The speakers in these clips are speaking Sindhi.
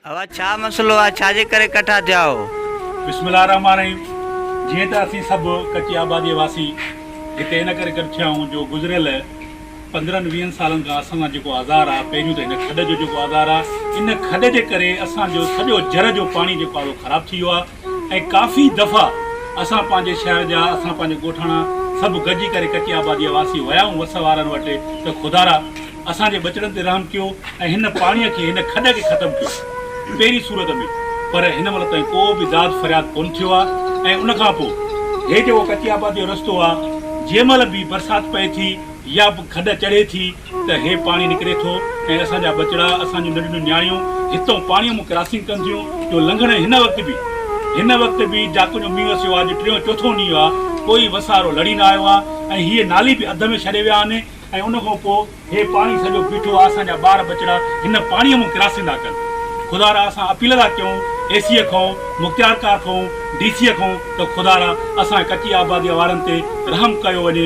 اوهان ڇا مسئلو آهي ڇا جي ڪري ڪٺا ٿيا هو. بسم الله الرحمٰن الرحيم جيئن ته اسين سڀ ڪچي آباديء واسي هتي ان ڪري گڏ ٿيا آهيون جو گذريل پندرهن ويهن سالن کان اسان سان جيڪو آزار آهي پهريون ته هن کڏ جو جيڪو آزار آهي ان کڏ جي ڪري اسان جو سڄو جر جو پاڻي جيڪو آهي اهو خراب ٿي ويو آهي ۽ ڪافي دفعا اسان پنهنجي شهر جا، اسان پنهنجي ڳوٺاڻا سڀ گڏجي ڪري ڪچي آباديء واسي ويا آهيون وس وارن وٽ ته خدارا اسان جي ٻچڙن تي رحم ڪيو ۽ هن پاڻيء کي، هن کڏ کي ختم ڪيو پهرين صورت ۾، پر هن مهل تائين ڪو به داد فرياد ڪونه ٿيو آهي ۽ ان کان پوء هي جيڪو ڪچي آباديء جو رستو آهي جنهن مهل به برسات پئي ٿي يا به کڏ چڙهي ٿي، ته هي پاڻي نڪري ٿو ۽ اسان جا ٻچڙا، اسان جون ننڍڙيون نياڻيون هتئون پاڻيء مون ڪراسنگ ڪن ٿيون، جو لنگهڻ هن وقت به هن وقت به جاکو جو مينهن وسيو آهي، جو ٽيون چوٿون ڏينهن آهي، ڪوئي وسارو لڙي نه آيو آهي ۽ هيء نالي به اڌ ۾ ڇڏي ويا آهن ۽ ان کان پوء هي پاڻي سڄو بيٺو آهي، اسان جا ٻار ٻچڙا هن پاڻيء مون ڪراسنگ ٿا ڪن. خدارا اسان اپيل ٿا ڪيون اي سيء کانئون، مختيارڪار کانئون، ڊي سيء کانئون ته خدارا اسان جي ڪچي آباديء وارن تي رحم ڪيو وڃي،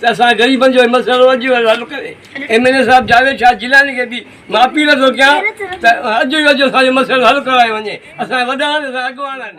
ته اسان غريبن جو هي مسئلو اڄ ئي حل ڪري ايم اين اي صاحب جاويد شاهه جيلاني کي به مان اپيل ٿو ڪيان ته اڄ ئي اڄ اسان جو مسئلو حل ڪرايو وڃي اسان جي وڏا آهن اسان جا اڳواڻ آهن